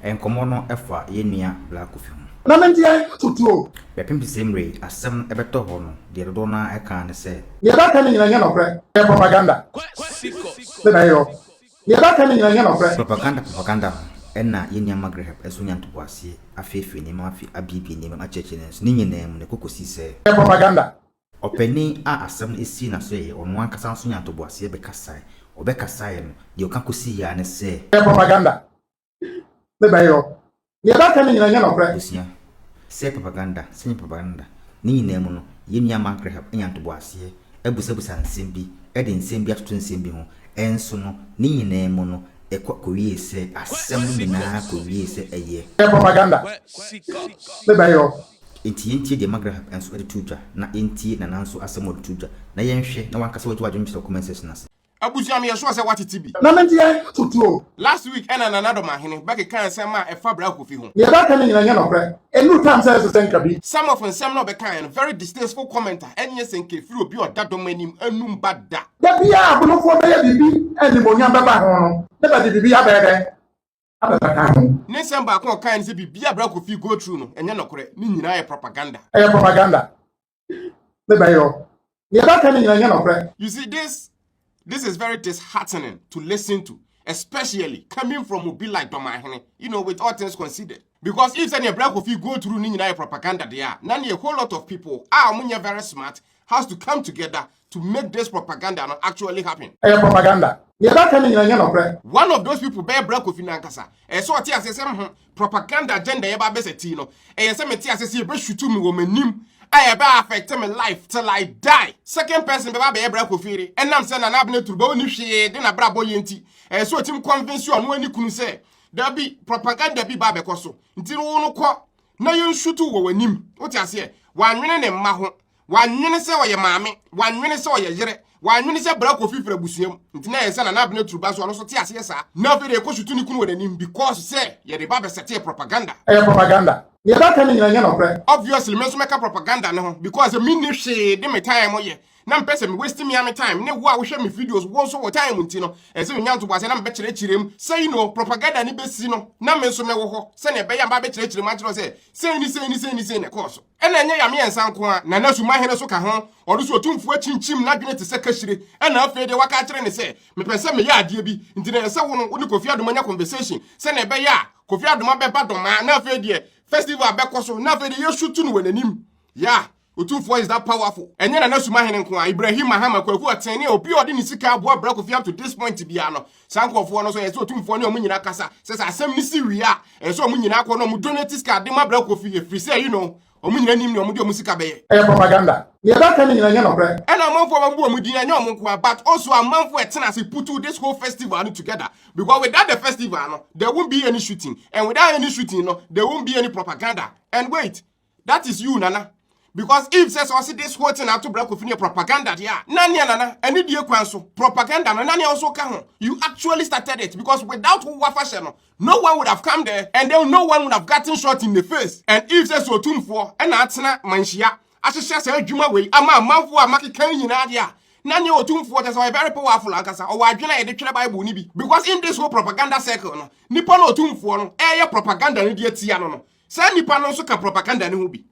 Nkɔmmɔ no fa yɛn nua Bla Kofi ho. Na me deɛ, tutu o. Bɛpem te sɛ mmerɛ yi asɛm no bɛtɔ hɔ no, deɛ dodoɔ no ara kaa ne sɛ. Deɛ bɛka no nyina nyɛ nɔkorɛ, ɛyɛ propaganda. Sɛ na ɛyɔ. Deɛ bɛka no nyina nyɛ nɔkorɛ. Propaganda propaganda no ɛna yɛn nua Magreb nso nya ntoboaseɛ, afeefee nneɛma, afi abiebie nneɛma mu, akyerɛkyerɛ nneɛma mu, nso ne nyinaa mu na ɛkɔ kɔsi sɛ. Ɛyɛ propaganda. Ɔpanin a asɛm no asii n'aso yɛɛ ɔno ankasa nso nyaa ntoboaseɛ bɛkasae. Ɔbɛkasaeɛ no, deɛ ɔka kɔsiiɛ ara ne sɛ. Ɛyɛ propaganda. Me bɛ yɔ. Neɛ bɛ ka no nyina nyɛ nɔkorɛ. Abusua. Sɛ yɛ propaganda, sɛ nyɛ propaganda, ne nyinaa mu no, yɛn nua Mark Graham nya ntoboaseɛ, abusabusa nsɛm bi, de nsɛm bi atoto nsɛm bi ho, nso no, ne nyinaa mu no, ɛkɔ kɔwiee sɛ asɛm no nyinaa kɔwiee sɛ ɛyɛ. Ɛyɛ propaganda. Me bɛ yɔ. Enti yɛntie deɛ Magrahab nso de too dwa na yɛntie Nana nso asɛm a ɔde too dwa na yɛnhwɛ na w'ankasa w'agye w'adwene kyerɛ wɔ comment section ase. Abusua meyɛ sure sɛ watete bi. Na me deɛ tutu o. Last week ɛna Nana Domahene bɛkekaa nsɛm a ɛfa Bra Kofi ho. Neɛ bɛɛka no nyina nyɛ nɔkorɛ ɛnuru time sɛ ɛsesɛ nka bi. Some of nsɛm na ɔbɛkaeɛ no very distasteful comment a ɛnyɛ sɛ nka ɛfiri obi a ɔda dɔm anim anum ba da. Da biara abonofoɔ bɛyɛ biribi a animuonyam bɛba ho no na bɛde biribi abɛyɛ dɛn? abɛfa ka ho. Ne nsɛm baako a ɔkae ne sɛ biribi a Bra Kofi go through no ɛnyɛ nɔkorɛ, ne nyinaa yɛ propaganda. Ɛyɛ propaganda. Ne bɛyɛ hɔ. Deɛ bɛka ne nyinaa nyɛ nɔkorɛ. You see this this is very disheartening to listen to especially coming from obi like Dɔmahene you know with all things considered. Because if sɛdeɛ Bra Kofi go through ne nyinaa yɛ propaganda deɛ a, na neɛ whole lot of people a wɔnyɛ very smart has to come together to make this propaganda no actually happen. Ɛyɛ propaganda. Nea ɛbɛka ne nyina nyɛ nɔkorɛ. One of those people bɛyɛ Bra Kofi no ankasa. Ɛyɛ sɛ ɔte aseɛ sɛ mho propaganda agenda yɛba abɛsɛ tii no. Ɛyɛ sɛ mete aseɛ sɛ yɛbɛshutu me wɔ m'anim a ɛbɛ affect me life till I die. Second person bɛba abɛyɛ Bra Kofi yere ɛnam sɛ Nana Abena Turba ɔnni hwee de n'abrabɔ yɛ nti. Ɛyɛ sɛ ɔtim convince ɔno ne kunu sɛ dabi propaganda bi ba abɛkɔ so nti no wo no kɔ na yɛnshutu wɔ w'anim. Wote aseɛ? Wannwene ne mma ho. Wannwene sɛ ɔyɛ maame, wannwene sɛ ɔyɛ yere, wannwene sɛ bra kofi firi abusua mu. Nti na ɛyɛ sɛ Nana Abena Turu ba nso ɔno nso te aseɛ saa. Na afei deɛ ɛkɔ so tu ne kunu wɔ n'anim because sɛ yɛde ba bɛsɛteɛ propaganda. Ɛyɛ propaganda. Deɛ ɛbɛka no nyinaa nyɛ nɔkorɛ. Obviously me nso mɛka propaganda no ho because me nni hwee de me time yɛ na mempɛ sɛ me waste me ara me time ne wo a wohwɛ me videos wo nso wo time nti no ɛyɛ sɛ menya ntoboaseɛ na mebɛkyerɛkyerɛ mu sɛ you know propaganda no bɛsi no na me nso mɛwɔ hɔ sɛdeɛ ɛbɛyɛ a mɛba abɛkyerɛkyerɛ mu akyerɛ wo sɛ sei ne sei ne sei ne sei na ɛkɔɔ so. Ɛna ɛnyɛ yɛ mmiɛnsa nko a, na na sumahene nso ka ho. Ɔno nso otumfoɔ akyinkyim n'adwene te sɛ kahyire. Ɛna afei deɛ waka akyerɛ no sɛ, mepɛ sɛ meyɛ adeɛ bi, nti na ɛsɛ sɛ wo no wone Kofi Adoma nya conversation sɛnea ɛbɛyɛ a Kofi Adoma bɛba Domaa na afei deɛ festival bɛkɔ so na afei deɛ yɛsutu no wɔ n'anim. Yeah! Otumfoɔ is that powerful. Ɛnyɛ Nana Sumahene nko a, Ibrahim Mahama, Kwaku Ɔtene, obi a ɔde ne sika aboa bra Kofi up to this point biara no, Saa nkurɔfoɔ no so ɛsɛ otumfoɔ ne ɔmo nyinaa kasa sɛ sɛ asɛm no si wie a ɛsɛ sɛ ɔmo nyinaa kɔ na ɔmo donate sika de ma Bra Kofi ɛfiri sɛ you know ɔmo nyinaa nim nea ɔmo de ɔmo sika bɛyɛ. Ɛyɛ propaganda. Nea ɛbɛka no nyinaa nyɛ nɔkorɛ. Ɛna amanfoɔ a wɔabu wɔn din ɛnyɛ wɔn nkoa but also amanfoɔ a ɛtena ase putu this whole festival no together because without the festival no there won't be any shooting and without any shooting no there won't be any propaganda and wait That is you nana. Because if says also this whole thing ato bra kofi ne propaganda deɛ a na nea nana ɛne die kwan so propaganda no na nea nso ka ho you actually started it because without wo wafahyɛ no no one would have come there and then no one would have gotten shot in the face and if says otumfoɔ ɛna atena manhyia ahyehyɛ saa adwuma wei ama amanfoɔ a makeka nyinaa deɛ a na nea otumfoɔ kyɛ sɛ ɔyɛ very powerful ankasa ɔwɔ adwene a yɛde twerɛ bible no bi because in this whole propaganda circle no nipa na otumfoɔ no ɛyɛ propaganda no deɛ tia no no saa nipa no nso ka propaganda ne ho bi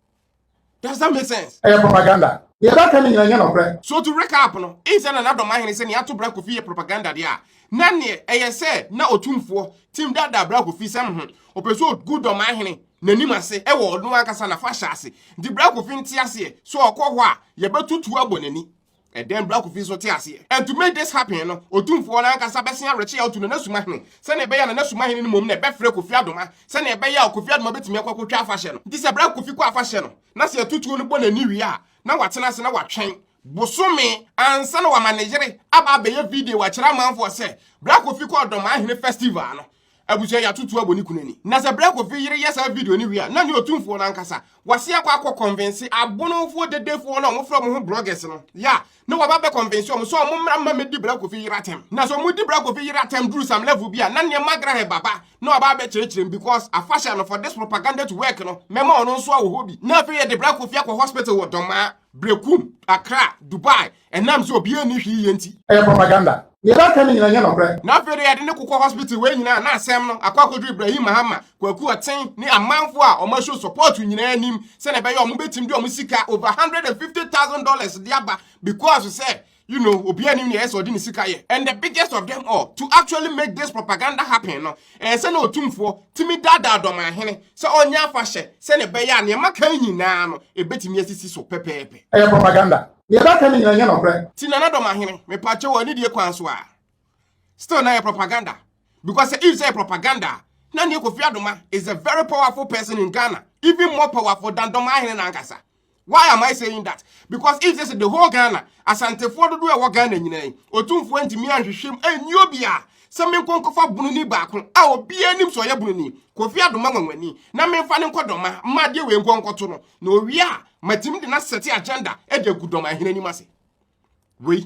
does that make sense ɛyɛ propaganda deɛ ɛbɛka ne nyina nyɛ nɔkorɛ so to recap no in sɛ nana dɔm ahene sɛ ne ato bra kofi yɛ propaganda deɛ a na neɛ ɛyɛ sɛ na ɔtumfoɔ tim daadaa bra kofi sɛm ho ɔpɛ sɛ ɔgu dɔm ahene n'anim ase ɛwɔ ɔno ankasa na fa hyɛ ase nti bra kofi nte aseɛ so ɔkɔ hɔ a yɛbɛtutu abɔ n'ani Ɛdɛn bere a Kofi nso te aseɛ? And to make this happen no, Otumfoɔ no ankasa bɛsen awerɛkye a ɔto no Nana Sumahene sɛnea ɛbɛyɛ a Nana Sumahene no mmom na ɛbɛfrɛ Kofi Adoma sɛnea ɛbɛyɛ a Kofi Adoma bɛtumi akɔ akɔtwa afahyɛ no. Nti sɛ bere a Kofi kɔ afahyɛ no na sɛ yɛto tuo no bɔ n'ani wie a, na watena ase na watwɛn bosome ansa na wama ne yere aba abɛyɛ video akyerɛ amanfoɔ sɛ bere a Kofi kɔɔ Dɔmahene Festival no, abusua yɛatoto abɔ ne kunu ani na sɛ berɛ kofi yere yɛ saa video no wie a na ne ɔtumfoɔ no ankasa wase akɔ akɔ kɔnvense abonofoɔ dedefoɔ no a wɔfrɛ wɔn ho bloggers no yɛ a na wɔba bɛ kɔnvense wɔn sɛ wɔn mmra mma mɛdi berɛ kofi yere atɛm na sɛ wɔn di berɛ kofi yere atɛm duru some level bi a na nneɛma grahɛ baba na wɔba bɛkyerɛkyerɛ mu because afahyɛ no for this propaganda to work no mɛma ɔno nso awɔ hɔ bi na afei yɛde berɛ kofi akɔ hospital wɔ dɔmaa Brekum, Accra, Dubai, Ɛnam sɛ obiara nni hwee yɛ nti. Ɛyɛ propaganda. Nea yɛreka no nyinaa nyɛ nokorɛ. Na afei deɛ yɛde no kokɔ hospital wei nyinaa na asɛm no akɔ akɔduru Ibrahim Mahama, Kwaku Ɔten ne amanfoɔ a wɔn show support nyinaa anim sɛdeɛ ɛbɛyɛ a wɔn bɛtim de wɔn sika over one hundred and fifty thousand dollars de aba because sɛ you know obiara nim nea ɛyɛ sɛ ɔde ne sika yɛ and the biggest of them all to actually make this propaganda happen no ɛyɛ sɛ na Otumfoɔ tumi daadaa Dɔmanhene sɛ ɔnyɛ afahyɛ sɛdeɛ ɛbɛyɛ a nea maka yi nyinaa no ɛbɛtumi asisi so pɛpɛɛpɛ. Ɛyɛ propaganda. Nea ɛbɛka ne nyinaa nyɛ nɔkorɛ. Ti nana dɔm ahene mepakyɛw wɔ anidie kwan so a still na yɛ propaganda because sɛ if sɛ yɛ propaganda a na neɛ Kofi Adoma is a very powerful person in Ghana even more powerful than dɔm ahene no ankasa why am I saying that because if sɛ sɛ the whole Ghana asantefoɔ dodoɔ ɛwɔ Ghana nyinaa yi otumfoɔ ntumi anhwehwɛm ɛnni obiara sɛ menko nkɔfa bununi baako a obiara nim sɛ ɔyɛ bununi Kofi Adoma nwanwani na memfa no nkɔ dɔma ma adeɛ wei nkɔ nkɔto no na owie a matumi de n'asɛte agenda de agu dɔm ahene anim ase wei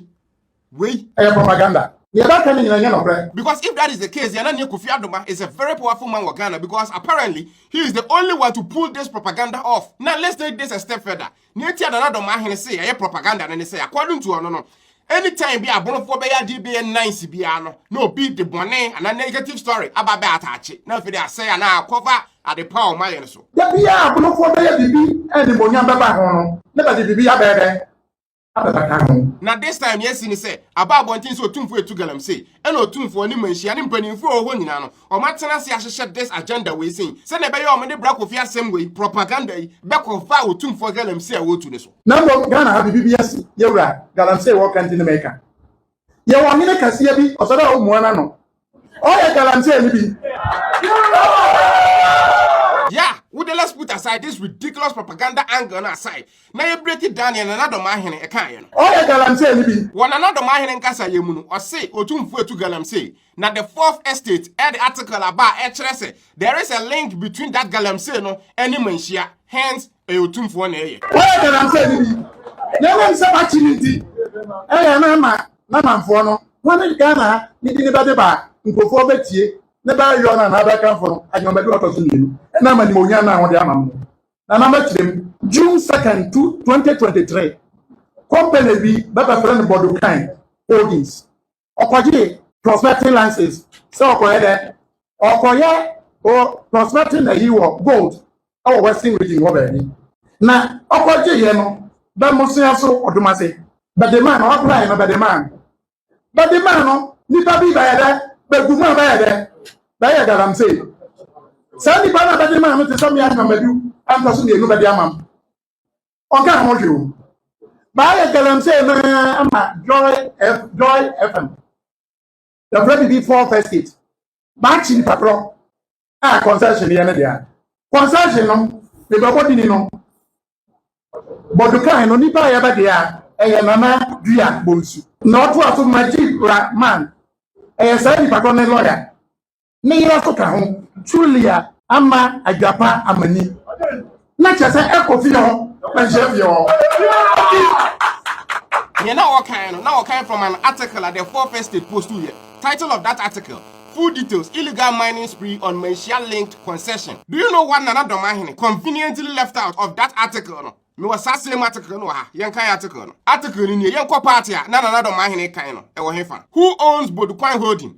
wei ɛyɛ propaganda yɛbɛka ne nyina nyɛ nɔkorɛ because if that is the case yɛna neɛ kofi adoma is a very powerful man wɔ ghana because apparently he is the only one to pull this propaganda off now let's take this a step further neɛ ti adanadɔm ahene se ɛyɛ propaganda no ne sɛ according to ɔno no Any time bi a bonofoɔ bɛyɛ adeɛ bɛyɛ nice biara no na obi de bɔne anaa negative story aba bɛ ataakye na afei de asɛe anaa akɔfa ade pa a wɔn ayɛ no so. Da biara a bonofoɔ bɛyɛ biribi a animuonyam bɛba ho no na bɛde biribi abɛyɛ dɛ? Abɛbata ho. Na this time nea asi ne sɛ aba abɔnten sɛ Otumfoɔ etu galamsey ɛna Otumfoɔ, ne mmanhyia, ne mpaninfoɔ a wɔwɔ hɔ nyinaa no Wɔatena ase ahyehyɛ this agenda wei sei sɛnea ɛbɛyɛ wɔn de bra Kofi asɛm wei propaganda yi bɛkɔ va otumfoɔ galamsey a wɔretu no so. Na mmom Ghana ha biribi bi asi, yɛwura galamsey wɔka nti na meka. Yɛwɔ ɔhene kɛseɛ bi, ɔsɛ dɛ wommua n'ano. Ɔyɛ galamsey no bi. Yeah, wo de let's put aside this ridiculous propaganda angle no aside na yɛ break it down yɛ Nana Domaahene ɛkaeɛ no. Ɔyɛ galamsey no bi. Wɔ Nana Domaahene nkasayɛ mu no, ɔse otumfoɔ atu galamsey Na the fourth estate ɛde article aba a ɛkyerɛ sɛ there is a link between that galamsey no ɛne manhyia hence ɛyɛ otumfoɔ na ɛyɛ. Wɔyɛ galamsey no bi na ɛnam sɛ wakye no nti ɛyɛ na ama n'amanfoɔ no wɔn ne Ghana ha ne bi ne bɛde ba a nkurɔfoɔ bɛtie ne bɛyɔ no anaa bɛkamfo no agye wɔn bɛde wɔtɔ so mmienu ɛnam animuonyam no a wɔde ama no na nam akyerɛ mu. June 2nd, 2023, company bi bɛbɛfrɛ no Bodokan Holdings ɔkɔgyee prospecting license sɛ ɔkɔyɛ dɛ ɔkɔyɛ o prospecting na yi wɔ gold wɔ western region hɔ baabi na ɔkɔgyeeɛ no bɛmosea so ɔdomase bɛde maa no ɔapply no bɛde maa no bɛde maa no nipa bi bɛyɛ dɛ bɛgu mu a bɛyɛ dɛ bɛyɛ galamsey saa nipa no a bɛde maa no te sɛ mmea nnwamadu ɛntɔ so mmienu bɛde ama no ɔka ho hwɛ o baayɛ galamsey no ama joy f joy fm yɛfrɛ biribi four first aid baakye nipa korɔ a concession yɛ ne deɛ concession no mebɛbɔ dini no bɔdukan no nipa a yɛbɛ deɛ ɛyɛ nana dua bonsu na ɔto aso magye rahman ɛyɛ saa nipa korɔ ne lɔya ne yere nso ka ho. Julia ama adwapa amani. Na kyerɛ sɛ ɛkɔ fie hɔ, na nhyɛ fie hɔ. Nea na wɔkan no, na wɔkan from an article a the Four First State post yɛ. Title of that article, Full details, Illegal mining spree on Manhyia linked concession. Do you know what Nana Domahene conveniently left out of that article no? Mewɔ saa same article no wɔ ha. Yɛnkan article no. Article no nie, Yɛnkɔ part a na Nana Domahene kan no, ɛwɔ hefa? Who owns Bodukwan Holding?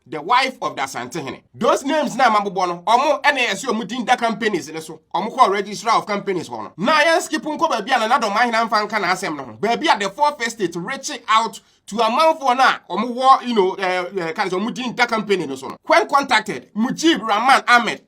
The wife of the Asantehene. Those names na mabobɔ no, ɔmo ɛna ɛsɛ ɔmo din da companies ne so. Ɔmo kɔɔ registrar of companies hɔ no. Na yɛn skip nkɔ baabi a Nana Dɔmahena mfa nka n'asɛm no ho. Baabi a the fourth estate reach out to amanfoɔ no a ɔmo wɔ you know ɛɛ eh, eh, ɛɛ eh, ka ne sɛ ɔmo din da company no so no. When contacted, Mujib Rahman Ahmed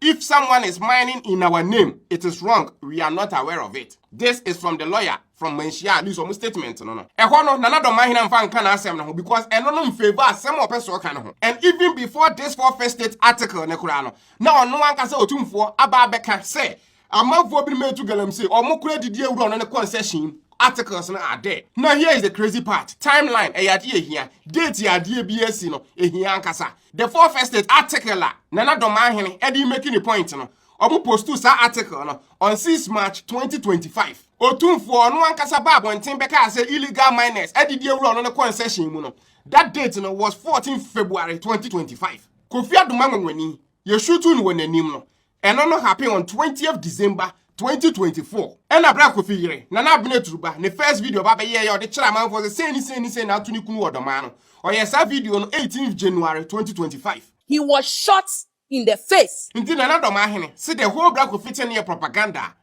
If someone is mining in our name, it is wrong. We are not aware of it. This is from the lawyer from Manhyia, at least ɔmo statement no no. Ɛhɔ no, Nana Dɔm Mahina mfa nka n'asɛm no ho because ɛno no mfavour asɛm a ɔpɛ so ɔka no ho. And even before this four first state article no koraa no, na ɔno ankasa Otumfoɔ aba abɛka sɛ amanfoɔ binom atu galamsey, ɔmo kora didi awura ɔno ne concession mu. articles no are there. Now here is the crazy part. Timeline ɛyɛ adeɛ ehia. Date yɛ adeɛ bi esi no ehia ankasa. The Four First States article a Nana Dɔmaahene ɛde remake ne point no, ɔmo postu saa article no on 6 March 2025. Otumfoɔ a ɔno ankasa baa abɔnten bɛkaa sɛ illegal miners adidi awura ɔno ne concession mu no, that date no was 14 February 2025. Kofi Adomah nwanwani, yɛshutu no wɔ n'anim no, Ɛno no happen on twentieth December twenty twenty four. Ɛna bere a Kofi yere, Nana Abena Aturuba, ne first video ba bɛyɛeɛ a ɔde kyerɛ amanfoɔ sɛ sei ne sei ne sei na ato ne kunu wɔ Ɔdɔmaa no, ɔyɛɛ saa video no eighteenth January twenty twenty five. He was shot in the face. Nti Nana Dɔmaa hene se the whole bere a Kofi te no yɛ propaganda a.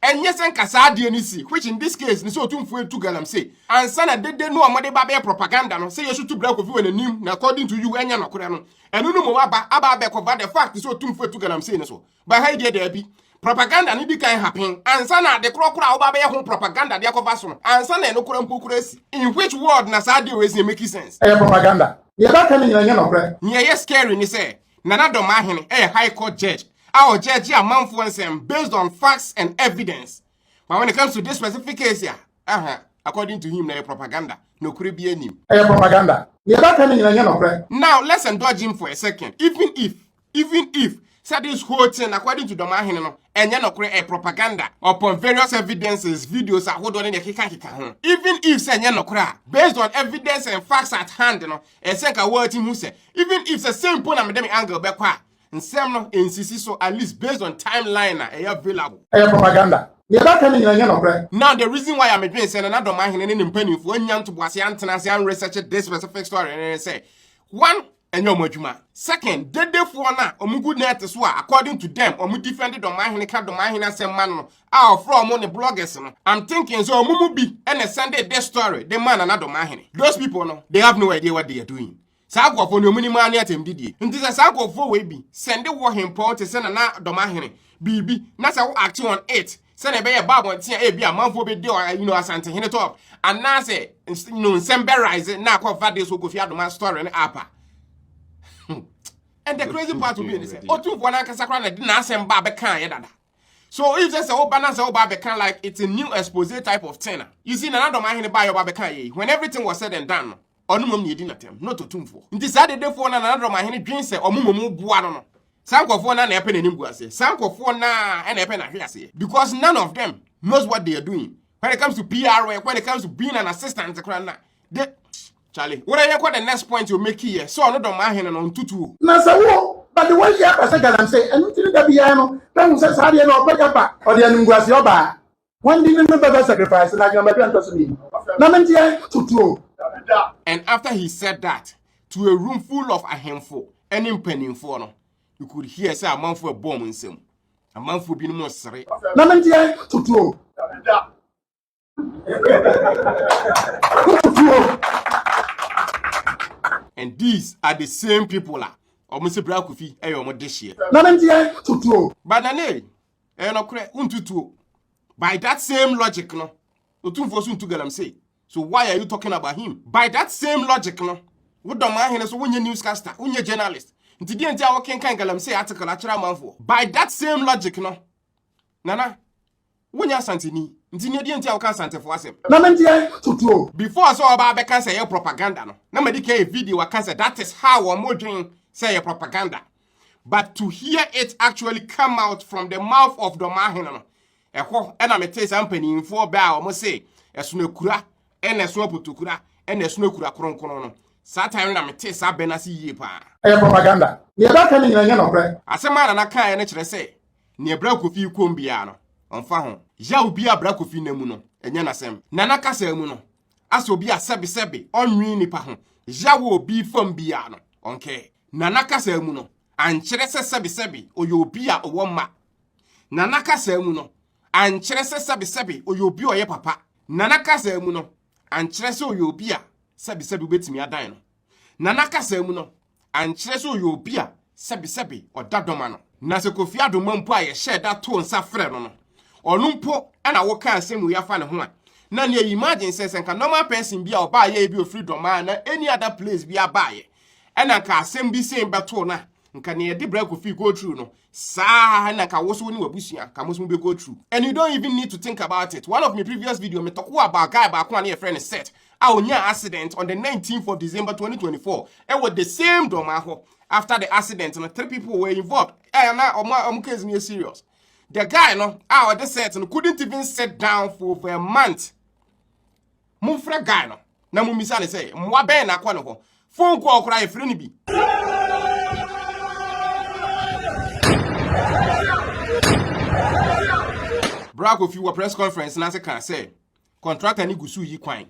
Ɛnyɛ sɛ nka saa adeɛ no si, which in this case ne sɛ Otumfoɔ retu galamsey ansa na dede no a wɔde ba bɛyɛ propaganda no sɛ yɛsutu bra Kofi wɔn anim na according to you ɛnyɛ nokorɛ no, ɛno no mmom aba aba abɛkɔba the fact sɛ Otumfoɔ retu galamsey no so. But ha yi deɛ daabi. Propaganda no di kan happen ansa na ade korɔ korɔ a woba bɛyɛ ho propaganda de akɔfa so no ansa na ɛno korɔ mpo korɔ asi. In which world na saa adeɛ wei si ɛmeki sense? Ɛyɛ propaganda. Deɛ ɛbɛka no nyina ɛnyɛ nɔkorɛ. Nea ɛyɛ scary ne sɛ Nana Domahene yɛ High Court Judge a ɔgyɛɛgye amanfoɔ nsɛm based on facts and evidence but when it comes to this specific case a, aha, according to him na ɛyɛ propaganda, nokorɛ biara nnim. Ɛyɛ propaganda. Deɛ bɛka no nyina nyɛ nɔkorɛ. Now let's indulge him for a second even if even if sɛ this whole thing according to Domahene no ɛnyɛ nɔkorɛ ɛyɛ propaganda upon various evidences, videos ahodoɔ ne deɛ ɛkekankeka ho even if sɛ ɛnyɛ nɔkorɛ a based on evidence and facts at hand no Ɛsɛ sɛ nka woati hu sɛ even if sɛ sɛ mpo na mede me angle bɛkɔ a, nsɛm no nsisi so at least based on timeline a ɛyɛ available. Ɛyɛ propaganda. Nea ɛbɛka no nyinaa nyɛ nɔkorɛ. Now the reason why a medwene sɛ na na Dɔmahene ne ne mpaninfoɔ annya ntoboaseɛ antena ase an research this specific story no ne sɛ, one, ɛnyɛ wɔn adwuma. Second, dedefoɔ no a wɔgu net so a according to them wɔn defend Dɔmahene ka Dɔmahene asɛm ma no no, a ɔfrɛ ɔmo ne bloggers no I'm thinking sɛ ɔmo mu bi ɛna sɛnde this story de maa Nana Domaahene those people no they have no idea what they are doing saa nkurɔfoɔ no ɔmo nim ara ne atɛmdidie nti sɛ saa nkurɔfoɔ wei bi sɛnde wɔ hempɔn te sɛ Nana Domaahene biribi na sɛ wo act on it sɛnea ɛbɛyɛ ba abɔnten a ebi amanfoɔ bɛdi ɔ- you know, asantehene top anaasɛ ns- you know, nsɛm bɛrise na akɔfa de so kofi adoma story no apa and the crazy part will be ne sɛ ɔtumfoɔ no ankasa koraa na de n'asɛm ba bɛkaeɛ dada so if sɛ sɛ woba na sɛ woba abɛka like it's a new expose type of thing a you see nana dɔm ahene baayɛ ɔba abɛka yɛ when everything was said and done no ɔno mmom na yɛdi natɛm not ɔtumfoɔ nti saa dedefoɔ na nana dɔm ahene dwen sɛ ɔmo mmom boa no no saa nkurɔfoɔ no na ɛpɛ n'anim gu aseɛ saa nkurɔfoɔ no a na ɛpɛ n'ahwe aseɛ because none of them knows what they are doing when it comes to PR work when it comes to being an assistant koraa na they Charlie were yɛ kɔ the next point o meki yɛ sɛ ɔno dɔm ahene no ntutu o. Na sɛ wo ba de wayi aba sɛ galamsey ɛno nti ne da biara no bɛhu sɛ saa deɛ no ɔpɛ gya ba ɔde animguaseɛ ɔbaa wɔn de no no bɛbɛ sacrifice no adwuma bɛdua ntɔso mmienu na menteɛ tutu o. And after he said that to a room full of ahemfo ɛne mpaninfoɔ no you could hear sɛ amanfoɔ ɛbɔ wɔn nsam amanfoɔ binom resere. Na menteɛ tutu o. and these are the same people a wɔn sɛ bra kofi ɛyɛ wɔn de hyeɛ. na ne deɛ tutuo. banane ɛyɛ nɔkorɛ ntutuo by that same logic no otumfoɔ so ntu galamsey so why are you talking about him by that same logic no wodɔm ahene so wonyɛ newscaster wonyɛ journalist nti deɛ nti a wɔkenkan galamsey article akyerɛ amanfoɔ by that same logic no nana Wonyɛ Asanteni, nti nea deɛ nti a woka Asantefo asɛm. Na me deɛ toto o. Before sɛ ɔba abɛka sɛ ɛyɛ propaganda no, na madi kan yɛ video aka sɛ that is how wɔn dwen sɛ ɛyɛ propaganda. But to hear it actually come out from the mouth of Dɔmahene no, ɛhɔ na metee saa mpanimfoɔ bɛ a wɔn se ɛsono akura, ɛna ɛsono apotokura, ɛna ɛsono akura kronkron no. Saa time no na metee saa bɛ no ase yie paa. Ɛyɛ propaganda. Nea ɛbɛka no nyina nyɛ nɔkorɛ. Asɛm a Nana kaeɛ no kyerɛ sɛ Nea bra Kofi kɔm biara no, ɔmfa ho. Yaw biara a bra Kofi nam mu no, ɛnyɛ n'asɛm. Nana kasa mu no, asɛ obi a sɛbesɛbe ɔnnwen nnipa ho yaw wɔ obi fam biara no, ɔnkɛɛ. Nana kasa mu no, ankyerɛ sɛ sɛbesɛbe ɔyɛ obi a ɔwɔ mma. Nana kasa mu no, ankyerɛ sɛ sɛbesɛbe ɔyɛ obi a ɔyɛ papa. Nana kasa mu no, ankyerɛ sɛ ɔyɛ obi a sɛbesɛbe wobɛtumi adan no. Nana kasa mu no, ankyerɛ sɛ ɔyɛ obi a sɛbesɛbe ɔda dɔ ma no. Na sɛ Kofi Adomma mpo a yɛhyɛɛ da too nsa frɛɛ no no, ɔno mpo na wokaa nsɛm wei afa ne ho a, na nea imagine sɛ, sɛ nka normal person bi a ɔbaeɛ ebi ɔfiri Dɔmaa anaa any other place biara baeɛ na nka asɛm bi sei bɛtoo no a, nka nea yɛde brɛɛ Kofi go through no, Saa na nka wo so wo ne w'abusua ka mo so mo be go through and you don't even need to think about it. One of me previous video me talk about guy baako a ne yɛfrɛ no Seth a onyaa accident on the 19th of December 2024 ɛwɔ the same Dormaa hɔ. After the accident no three people were involved a na ɔmo ɔmo case no yɛ serious. The guy no a ɔde Seth no couldn't even sit down for over a month. Momfrɛ guy no na mommisa ne sɛ mmoa bɛn na akɔ ne hɔ. Phone call koraa yɛfrɛ no bi. Bra Kofi wɔ press conference no ase kaa sɛ contractor no gu so yi kwan.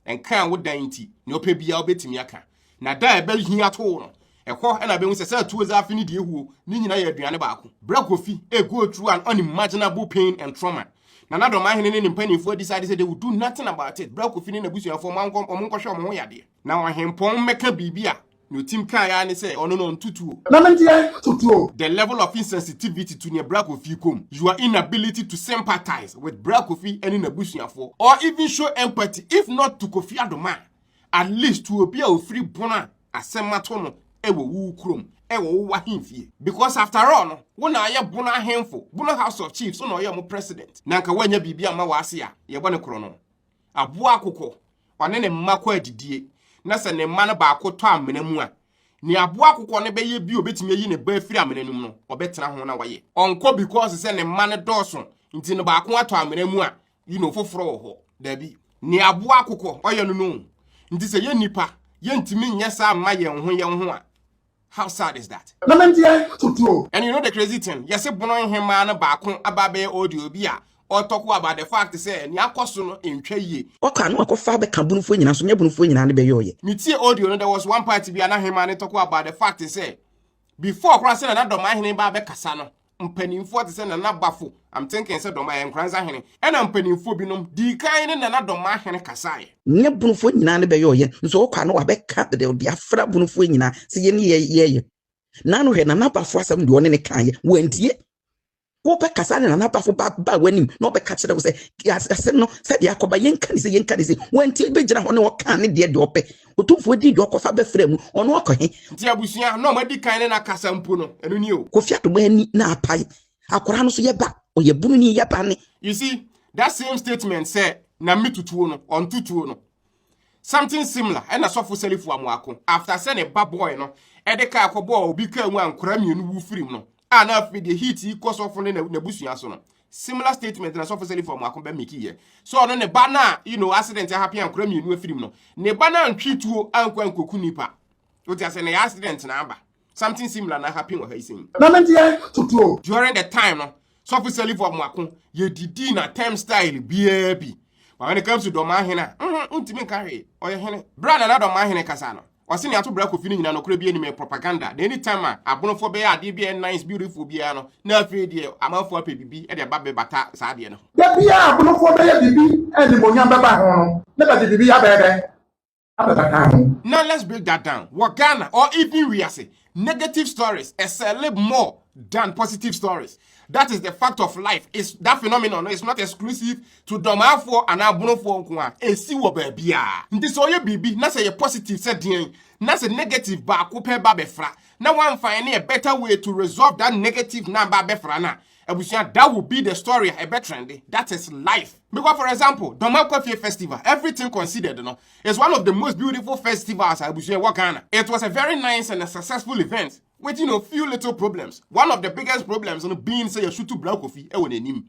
Nka a wodan nti, nea ɔpɛ biara wobɛtumi aka. Na da a ɛbɛhini atow no, ɛhɔ na ɛbɛhu sɛ sɛ tuo dze afe ne deɛ huo, ne nyina yɛ aduane baako. Berɛ Kofi a go through an unimaginable pain and trauma, na n'adɔmahene ne ne mpaninfoɔ decide sɛ they will do nothing about it, berɛ Kofi ne n'abusuafoɔ ma ɔnkɔ ɔmo nkɔhwɛ ɔmo ho yadeɛ, na ɔhempɔn mmɛka biribi a, nea ɔtim kaeɛ ara ne sɛ ɔno no ɔnto tuo. Na me deɛ, to tuo. The level of insensitivity to nea Bra Kofi rekɔ mu, your inability to sympathize with Bra Kofi ne n'abusuafoɔ or even show empathy if not to Kofi Adomah, At least obi a ofiri bon a asɛm ato no wɔ wo kurom, wɔ wo w'ahemfie. Because after all no, wo na ayɛ Bono ahemfo, Bono House of Chiefs, wo na ɔyɛ ɔmo president. Na anka woannya biribi amma w'ase a, yɛbɔ no korɔno. Aboa akokɔ, ɔne ne mma kɔ adidie, na sɛ ne mma no baako tɔ amena mu a, nea aboa akokɔ no bɛyɛ bi a obetumi ayi ne ba afiri amena no mu no, ɔbɛtena ho na wayɛ. Ɔnkɔ because sɛ ne mma no dɔɔso nti no baako atɔ amena mu a, yi no foforɔ wɔ hɔ daabi ne aboa akokɔ ɔyɛ no no nti sɛ yɛ nnipa yɛntumi nyɛ saa mma yɛn ho yɛn ho a how sad is that na menteɛ totoo and you know the crazy thing yɛse bono nhemaa no baako aba abɛyɛ audio bi a ɔtɔko about the fact sɛ ne akɔ so no ntwa yie. Ɔkɔ a na wakɔfa abɛka bonofoɔ nyinaa so nyɛ bonofoɔ nyinaa ne bɛyɔɔyɛ. Metie audio no there was one part bi a na hemaa no tɔko about the fact sɛ before koraa sɛdeɛ na dɔmaa hene ba abɛkasa no mpanimfoɔ te sɛ Nana Bafo, I'm thinking sɛ Dɔma yɛ Nkoranza hene, ɛna mpanimfoɔ binom dii kan ne Nana Dɔma hene kasaeɛ. Nea Bonofoɔ nyinaa ne bɛyɛ ɔyɛ, nso ɔkɔ a na wabɛka de ɔde afra Bonofoɔ nyinaa sɛ yɛn ne yɛ yɛyɛ. Na ano hwɛ Nana Bafo asɛm deɛ ɔne ne kaeɛ, wantie. Wobɛkasa ne Nana Bafo ba ba w'anim na ɔbɛka kyerɛ wo sɛ asɛm no sɛdeɛ akɔba yɛnka ne sɛ yɛnka ne sɛ, wantie bɛgyina hɔ ne ɔkaa ne deɛ deɛ ɔpɛ. Otumfoɔ di dwa ɔkɔfa bɛfrɛ mu, ɔno ɔkɔ he? Te abusua na ɔmo adi kan ne no akasa mpo no, ɛno ni o. Kofi Atoma ani na apae, akwaraa no so yɛ ba, ɔyɛ bunu ni, yɛ ba ne. You see, that same statement sɛ na me tutuo no, ɔnto tuo no. Something similar ɛna Sɔfo Selifu Amoako, after sɛ ne ba bɔe no, ɛde kaa kɔbɔɔ obi kaa mu a nkwaraa mmienu wu firim no, a na afei deɛ heat yi kɔ sɔfo ne n'abusua so no similar statement na sɔfo sɛlifo mako bɛ meki yɛ sɛ ɔno ne ba no a you know accident ahape ankora mmienu afirim no ne ba no antwe tuo ankɔ ankoku nipa wote asɛ na yɛ accident na aba something similar na happen wɔ ha yi sɛn na me deɛ kotuo during the time no sɔfo sɛlifo mako yɛdidi na term style biaa bi but when it comes to dɔmahene a ntumi nka hwee ɔyɛ hene berɛ a nana dɔmahene kasa no Ɔse nea ato bra Kofi no nyina nɔkorɛ bia nim ɛyɛ propaganda na anytime a abonofoɔ bɛyɛ adeɛ bia ɛyɛ nice beautiful biaa no na afei deɛ amanfoɔ apɛ bibi de aba bɛbata saa adeɛ no ho. Da biaa a abonofoɔ bɛyɛ bibi a animuonyam bɛba ho no na bɛde bibi abɛɛdɛn abɛbata ho. Now let's break that down, wɔ Ghana or even wiase Negative stories excel more than positive stories. That is the fact of life. It's, that phenomenon no, is not exclusive to Domafoɔ and Abonofoɔ nko a. Ɛsi wɔ baabi a. Nti sɛ ɔyɛ biribi na sɛ yɛ positive sɛ deɛn na sɛ negative baako pɛ ba bɛfra na wamfa ne a better way to resolve that negative na ba bɛfra no a, Abusua that will be the story a ɛbɛ trende, that is life. Because for example, Dɔma Kwafie festival, everything considered no, is one of the most beautiful festivals a abusua ɛwɔ Ghana. It was a very nice and a successful event with you know few little problems. One of the biggest problems no being sɛ yɛsutu Bra Kofi ɛwɔ n'anim.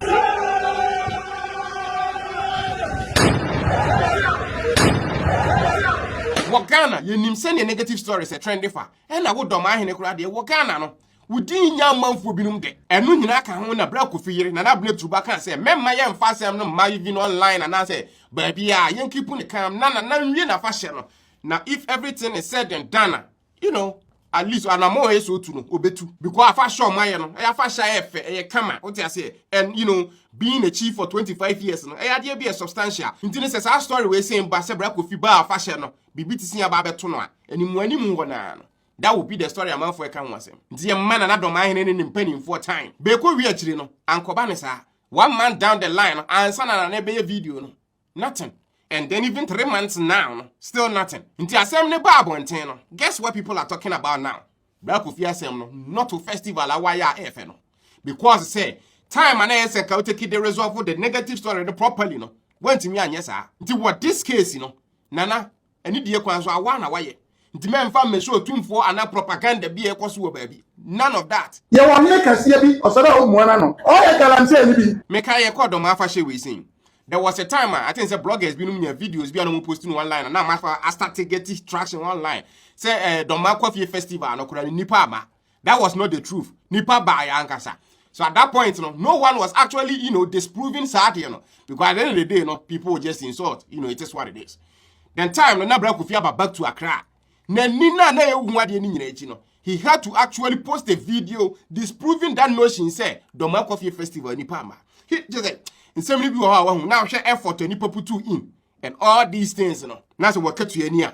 Wɔ Ghana, yɛnim sɛdeɛ negative stories ɛtrende fa, ɛna wo Dɔma Ahene koraa deɛ wɔ Ghana no, Wo din nyɛ amanfoɔ binom dɛ. Ɛno nyinaa ka ho na berɛ a Kofi yere, Nana Abena Turuba kaa sɛ mɛmma yɛmfa asɛm no mma even online anaasɛ baabiara, yɛnkipu no calm na Nana nwie n'afahyɛ no na if everything is said and done a, you know, at least anamɔn a ɛyɛ sɛ ɔtu no, ɔbɛtu. Because afahyɛ a wɔayɛ no, ɛyɛ afahyɛ a ɛyɛ fɛ, ɛyɛ kama, wote aseɛ? And, you know, being a chief for 25 years no, ɛyɛ adeɛ bi a ɛyɛ substantial. Nti no sɛ saa story wei sei ba sɛ Bra Kofi baa afahyɛ no, biribi te sei aba abɛto no a, animuanimu wɔ no ara no, That will be the story amanfoɔ ɛka ho asɛm. Nti yɛmma Nana Dɔm ahene ne ne mpanimfoɔ time. Bɛkɔ wie akyiri no, ankɔba ne saa. One month down the line no, ansa na Nana ɛbɛyɛ video no, nothing. And then even three months now no, still nothing. Nti asɛm no baa abɔnten no, guess what people are talking about now? Bra Kofi asɛm no, not to festival a wayɛ a ɛfɛ no. Because sɛ time a na ɛyɛ sɛ nka wotake de resolve the negative story no properly no, wantumi anyɛ saa. Nti wɔ this case no, Nana Anidie kwan so awa na wayɛ. Nti mɛmfa mmɛsi otumfoɔ anaa propaganda bi a ɛkɔ so wɔ baabi. None of that. Yɛwɔ ɔhene kɛseɛ bi, ɔsɛ dɛ wommoa n'ano. Ɔyɛ galamseyni bi. Me kae yɛkɔɔ Dɔm afahyɛ wei sei. There was a time a I think sɛ bloggers binom nyaa videos bi a na wɔn post no online a na ama afa a start geti traction online sɛ eh Dɔm akɔfie festival no koraa no nnipa amma. that was not the truth nipa baa yɛ ankasa so at that point no no one was actually you know disproving saa adeɛ no because at the end of the day no people just insult you know it is what it is then time no na bra kofi aba back to Accra n'ani na na ehu adeɛ no nyinaa akyi no he had to actually post a video disproving that notion sɛ dɔmɔ akɔfie festival nipa ama he just like nsɛm no bi wɔ hɔ a wahu na ahwɛ effort a nipa putu in and all these things no na sɛ wɔkatua ni a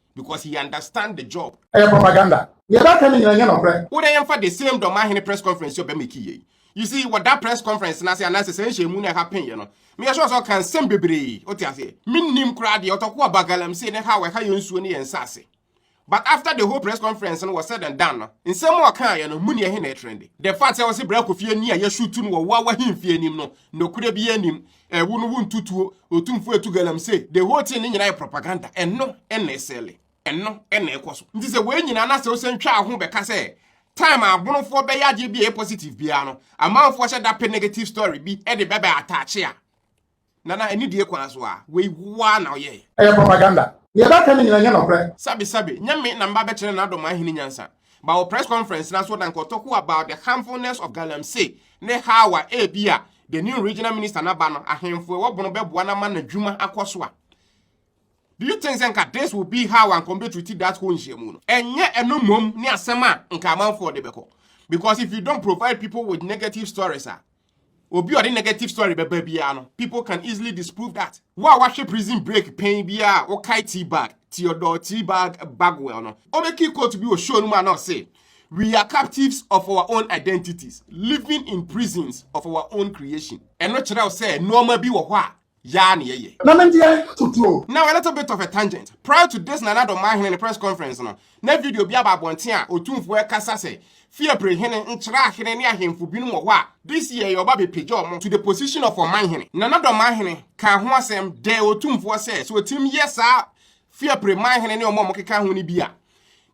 because he understand the job. Ɛyɛ propaganda. Nea ɛbɛka ne nyina nyɛ nɔkorɛ. Wo dɛ yɛmfa the same dɔmahene press conference yɛ ɔbɛmeki yei. You see, wɔ da press conference no ase anaasɛ sɛ nhyɛmu no ɛha pen yɛ no, meyɛ sure sɛ ɔka nsɛm bebree, wote aseɛ. Mennim koraa deɛ ɔtɔko aba galamsey ne ha wɔ ɛha yɛ nsuo ne yɛ nsase. But after the whole press conference no was said and done no, nsɛm a ɔka yɛ no, mu ne ɛhe na ɛtrende. The fact sɛ ɔse brɛ kofie ni a yɛshutu no wɔ wawa hemfie anim no, nokorɛ biara nim. Ɛwo no wo ntutuo. Otumfoɔ etu galamsey. The whole thing ne nyinaa yɛ propaganda. Ɛno ɛna ɛsɛle. Ɛno ɛna ɛkɔ so. Nti sɛ wei nyinaa na sɛ wosan twa aho bɛka sɛ time a abonofoɔ bɛyɛ adeɛ bi a ɛyɛ positive biara no, amanfoɔ hyɛ da pɛ negative story bi de bɛbɛ ataakye a, nana ɛne die kwan so a, wei woa na ɔyɛɛ. Ɛyɛ propaganda. Nea ɛbɛka no nyinaa nyɛ nɔkorɛ. Sabi sabi, nyɛ me na mba bɛkyerɛ nana Dɔm ahene nyansa. But wɔ press conference na so na nkɔtɔko about the harmfulness of galamsey ne how a ebi a the new regional minister na ba no ahemfo ɛwɔ bono bɛboa na ma n'adwuma akɔ so a Do you think sɛ nka this will be how anka ɔmbɛtruti that whole nhyiamu no? Ɛnyɛ ɛno mmom ne asɛm a nka amanfoɔ de bɛkɔ. Because if you don't provide people with negative stories a, obi a ɔde negative story bɛba biara no people can easily disprove that wo a wahwɛ prison break pɛn biara a wokae tea bag theodore tea bag bagwell no ɔmɛki court bi wɔ show no mu a na ɔse we are captives of our own identities living in prisons of our own creation ɛno kyerɛw sɛ nneɛma bi wɔ hɔ a yaa ne yɛyɛ. Na me deɛ totoo. Now a little bit of a tangent. Prior to this Nana Dɔ Mahene ne press conference no, na video bi aba abɔnten a otumfoɔ ɛkasa sɛ Fiapre hene nkyerɛ ahene ne ahemfo binom wɔ hɔ a this year yɛ ɔba bɛpagya wɔn to the position of Ɔmanhene. Nana Dɔ Mahene kaa ho asɛm dɛɛ otumfoɔ sɛ sɛ otim yɛ saa Fiapre manhene ne wɔn a wɔkeka ho no bi a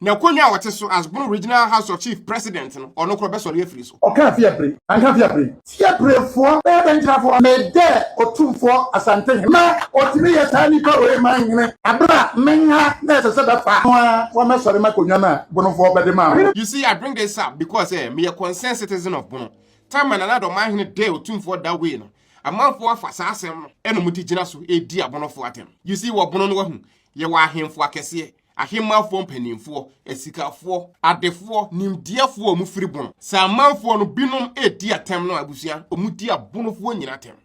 n'akonnwa a ɔte so as Bono Regional House of Chief President no, ɔno korɔ bɛsɔre afiri so. Ɔkaa Fiapre, anka Fiapre. Fiaprefoɔ bɛyɛ dɛn gyina fɔ? Medɛ Otumfoɔ Asante Hene a ɔtumi yɛ saa nipa wei manhene berɛ a me ha na ɛsɛ sɛ bɛfa no ara wɔmɛsɔre m'akonnwa no a Bonofoɔ bɛde maa me no. You see, I bring this up because eh, meyɛ concerned citizen of Bono. Time a Nana Addo manhene dɛɛ Otumfoɔ da wei no, Amanfoɔ afa saa asɛm no na ɔmo de gyina so redi abɔnɔfoɔ atɛm. You see, wɔ bono no wahu, yɛwɔ ahemfo akɛseɛ, ahemmanfoɔ mpaninfoɔ, asikafoɔ, adefoɔ, nimdeɛfoɔ a ɔmo firi bono. Sɛ amanfoɔ no binom redi atɛm no a abusua, ɔmo di abonofoɔ nyina atɛm.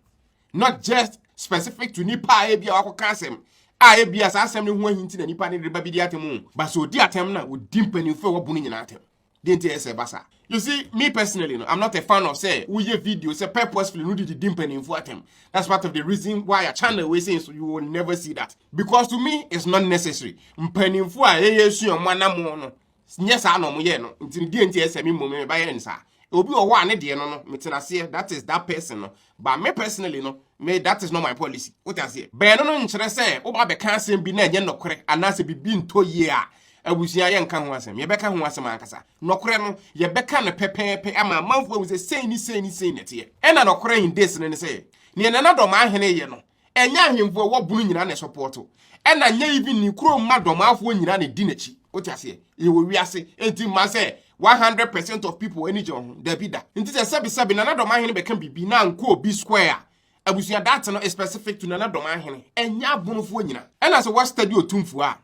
Not just specific to nipa a ebia wakɔka asɛm a ebia saa asɛm no ho ahi nti na nipa no reba bedi atɛm o, but sɛ ɔdi atɛm no a ɔdi mpaninfoɔ a ɛwɔ bono nyina atɛm. deɛ nti ɛyɛ sɛ ɛba saa you see me personally no i'm not a fan of sɛ woyɛ video sɛ purposefully no didi di mpanimfoɔ atɛm that's part of the reason why a channel wey say so you will never see that because to me it's not necessary mpanimfoɔ a yɛyɛ sua wɔn anamɔ no nyɛ saa na wɔn yɛ no nti deɛ nti ɛsɛ mi mmom ɛba yɛ nsaa obi wɔ hɔ a ne deɛ no no metena aseɛ that is that person no But me personally no, me that is not my policy. Wote aseɛ? Bɛn no no nkyerɛ sɛ woba bɛka asɛm bi na ɛnyɛ nɔkorɛ anaasɛ biribi ntɔ yie a abusua yɛnka ho asɛm. Yɛbɛka ho asɛm ankasa. Nɔkorɛ no, yɛbɛka no pɛpɛɛpɛ ama amanfoɔ ahu sɛ sei ne sei ne sei na ɛteɛ. Ɛna nɔkorɛ in this no ne sɛ, neɛ Nana Dormaa Hene yɛ no, ɛnyɛ ahemfo a ɛwɔ bono nyinaa na ɛsɔpɔɔto ɛna nyɛ even ne kuro mma dɔmaafoɔ nyinaa na ɛdi n'akyi wote aseɛ yɛwɔ wiase nti mma sɛ 100 percent of people ani gye wɔn ho dabi da nti sɛ sɛbesɛbe nana dɔmaahene bɛka biribi na nkɔ obi square a abusua date no is specific to nana dɔmaahene ɛnyɛ abonofoɔ nyinaa ɛna sɛ woastadi otumfoɔ a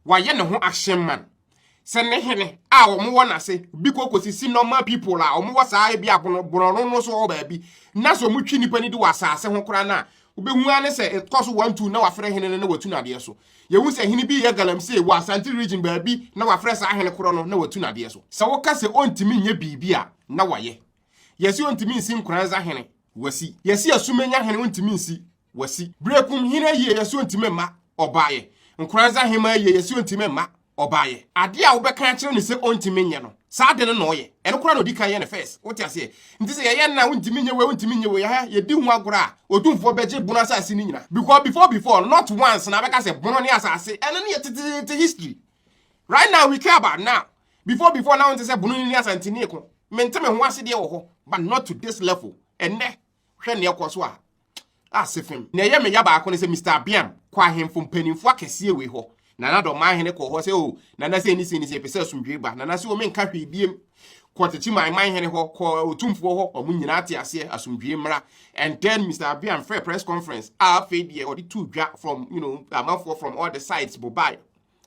wayɛ ne ho action man sɛ ne hene a wɔn wɔ n'ase bi kɔ kɔsisi normal people a wɔn wɔ saa ebi abono borɔno no so wɔ baabi na sɛ wɔn twi nipa ni di wɔ asaase ho koraa no a wobɛhu ara ne sɛ ɛkɔ so wɔn tu na wafrɛ hene no na watu n'adeɛ so yɛhu sɛ hene bi yɛ galamsey wɔ asante region baabi na wafrɛ saa hene korɔ no na watu n'adeɛ so sɛ woka sɛ ɔntumi nyɛ biribi a na wayɛ yɛsi ɔntumi nsi nkoranza hene wasi yɛsi asumenya hene ɔntumi nsi wasi. Berekum hene yieyɛsoɔ ntimi mma ɔbaeɛ. Nkoranza hemaa yieyɛsoɔ ntimi mma ɔbaeɛ. Adeɛ a wobɛka akyerɛ no sɛ ɔntimi nyɛ no, saa ade no na ɔyɛ. Ɛno koraa na ɔdi kan yɛ no first. Wote aseɛ? Nti sɛ yɛyɛ no a, wontimi nyɛ wei, wontimi nyɛ wei, aha, yɛdi ho agorɔ a, Otumfoɔ bɛgye bono asase no nyinaa. Because before before no, not once na abɛka sɛ bono ne asase. Ɛno no yɛ teteete history. Right now we care about now. Before before na wonte sɛ bono ne asante ne ɛko. Mente me ho ase deɛ wɔ hɔ, but not to this level. Ɛnnɛ, Hwɛ nea ɛkɔ so a. Ase fem. Na ɛyɛ me ya baako ne sɛ Mr. Abiam kɔ ahemfo mpanimfo akɛseɛ wei hɔ. Nana dɔ ɔman hene kɔɔ hɔ sɛ o nana sɛ ni sɛ ni sɛ yɛpɛ sɛ asomdwee ba. Nana sɛ o menka hwee biem. Kɔ tete man man hene hɔ, kɔ otumfoɔ hɔ, wɔn nyinaa te aseɛ, asomdwee mmra. And then Mr. Abiam frɛ press conference a afei deɛ ɔde tuu dwa from you know amanfoɔ from all the sides bobaeɛ.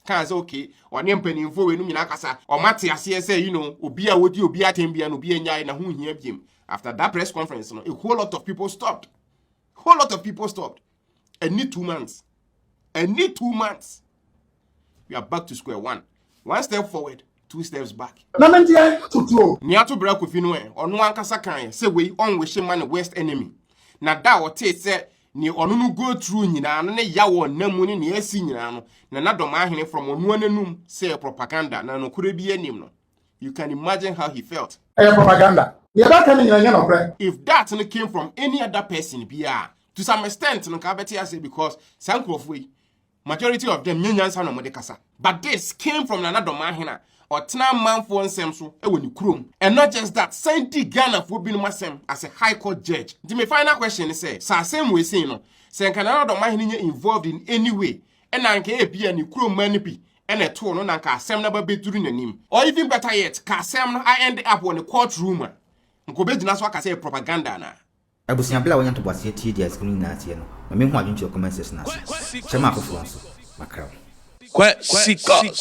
kaa sɛ okay ɔne mpanimfoɔ wei no nyinaa kasa ɔmo ate aseɛ sɛ you know obi a wodi obi atɛm bia no obi anyae na ho hia biem after that press conference no a whole lot of people stopped whole lot of people stopped ɛni two months ɛni two months we are back to square one one step forward two steps back. na me deɛ tutuo. nea to bra kofi no ɛ ɔno ankasa kan sɛ wei ɔnwehye ma ne worst enemy na da a ɔtee sɛ Nea ɔno no go through nyinaa no ne yaw a ɔnam mu ne nea asi nyinaa no, na na dɔm ahene from ɔnoa n'anum sɛ ɛyɛ propaganda na nokorɛ biara nnim no. You can imagine how he felt. Ɛyɛ propaganda. Nea ɛbɛka no nyinaa nyɛ nokorɛ. If that no came from any other person biara, to some extent no nka wobɛte aseɛ because saa nkorɔfoɔ yi, Majority of them nyɛ nyansa na wɔde kasa but this came from Nana Domahen a ɔtena amanfoɔ nsɛm so wɔ ne kurom and not just that san di Ghanafoɔ binom asɛm as a high court judge. Nti me final question ne sɛ sɛ asɛm wei sei no sɛ nka Nana Domahen nyɛ involved in any way ɛna anka ebia ne kurom mmaa no bi ɛna ɛtoo no na anka asɛm no aba bɛduru n'anim or even better yet ka asɛm no a end up wɔ ne court room a nka ɔbɛgyina so aka sɛ ɛyɛ propaganda anaa? Abusua bere a wonya ntoboaseɛ tie deɛ asɛm no nyinaa teɛ no ma mehu adwene kyerɛ comment section ase. Kyerɛ ma afoforɔ nso. Makra wo. Kwasicus.